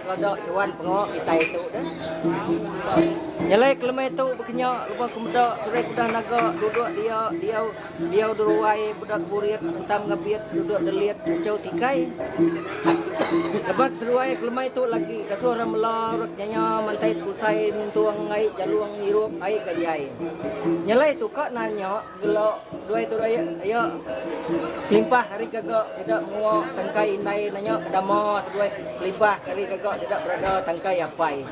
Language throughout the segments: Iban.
Kada juan pengawa kitai tu deh. Nyelai kelemai tu bekenya lebuh ke meda Turai Kudah Naga duduk dia diau diau deruai meda keburit entam ngebit duduk delit enchau tikai. Lebuh ke seduai kelemai tu lagi dasuh ra mela rak nyanya mantai tekusai nyentung ai jalung ngirup ai ke jai. Nyelai tu ka nanya. Gelo duai tu duai ayo kelimpah ari gaga sida menua tangkai indai nanya ke dama tu duai kelimpah ari gaga sida berada tangkai apai.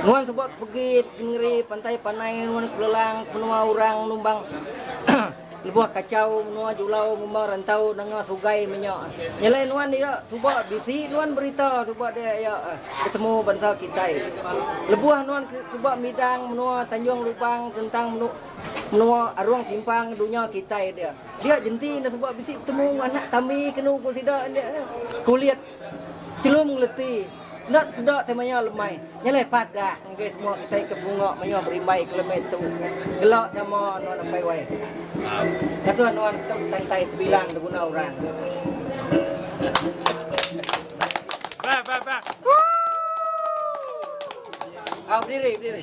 Nuan suba ke pegi ke nengeri pantai panai nuan ke belelang ke menua orang numbang lebuh kachau menua julau ngumba rantau nanga sugai menya. Nyelai nuan iya suba bisi nuan berita suba dia iya betemu bansa kitai. Lebuh nuan suba midang menua Tanjung Lubang tentang menua. Menua Arung Simpang dunya kitai dia. Dia jenti enda suba bisi betemu enggau anak tambi kenu ku sida enda nya. Kulit chelum ngeleti enda tekeda tai maya lemai. Nyelai padah enggai semua kitai ke bunga mayuh berimbai ke lemai tu. Gela nama nuan Apai Wai. Ngasuh nuan tu betantai sebilang diguna orang. Au bediri bediri.